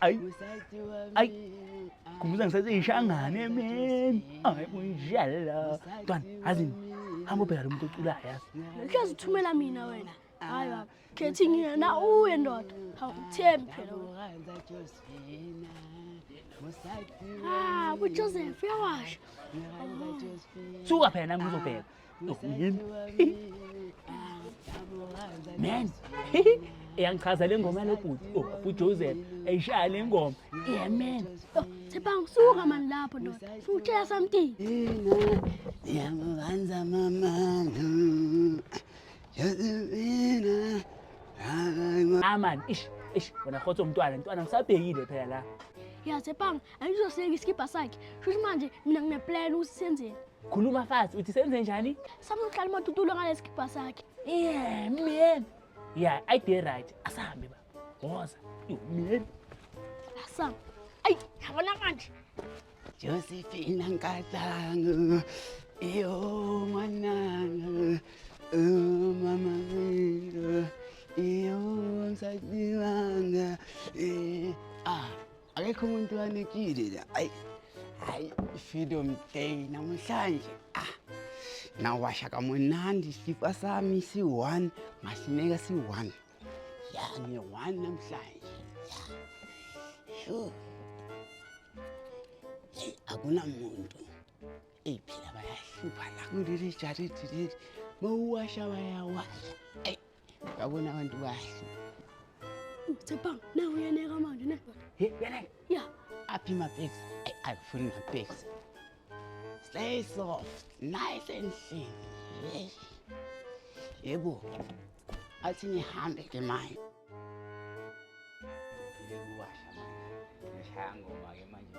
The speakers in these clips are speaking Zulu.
Ay. Ay. Kumuza ngisathi ishangane man. Ay kunjalo. Twana, azini. Hamba ubheka lo muntu oculayo yazi. Uhlezi uthumela mina wena. Hayi baba. Khethi ngina na uye ndoda. Hawu uthembi phela. Ah, uJoseph uyawasha. Suka phela nami ngizobheka. Nokuyin. Man. Iyangichaza le ngoma lobhuti. Oh, bhuti Joseph. Ayishaya le ngoma. Yeah man. Oh, Thibang suka man lapho ndoda. Futhela something. Ngiyamubanza mama. Josephina. Aman, ish, ish, wena khotho mntwana, mntwana ngisabhekile phela la. Yeah, Thibang Angizosinga isikibha sakhe. Shuthi manje mina ngine plan ukuthi senzeni. Khuluma fast uthi senze njani? Sami uqala uMatutulo ngale sikibha sakhe. Yeah, man. Yeah, I did right. Asahambe ba. Woza. Yo, man. Asam. Ay, yabona manje. Josephine Nkatanga. Iyo mwananga. Oh, mama nginga. Iyo nsadiwanga. Eh, ah. akekho umuntu wanekile la ayi hayi freedom day namhlanje ah nawasha kamunandi isifa sami si-one masineka si-one ya ngiyi-one namhlanje ya akunamuntu eyi phela bayahlupha la kuleli jaridi leli mawuwasha bayawasha Yabona abantu kahle. Uthepha na uyeneka manje ne? He, uyeneka? Yeah. Aphi ma pics? Ay, ayifuni ma pics. Stay soft, nice and thin. Yebo. Athi nihambe ke manje. Yebo washa manje. Ngishaya ngoma ke manje.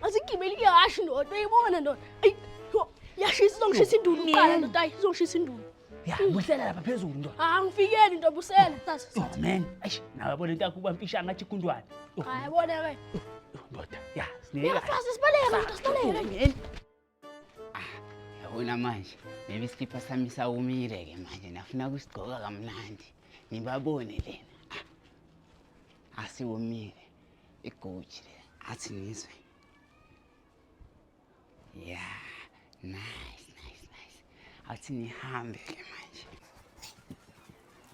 Masigibele iyashi ndoda uyibona ndoda. Ayi yashi sizongishisa indulo uqala ndoda ayi sizongishisa indulo. Ya busela lapha phezulu ndoda. Ah ngifikele ndoda busela sasa. Oh man, ayi nawe bona into yakho uba mfisha ngathi kundwane. Hayi bona ke. Ndoda, ya sineka. Yafasa sibaleka ndoda sibaleka. Yabona manje maybe isikipha sami sawumile ke manje nafuna kusigcoka kamnandi ngibabone lena Ah, asiwomile iguji le athi ngizwe ya nice nice nice athi nihambe ke manje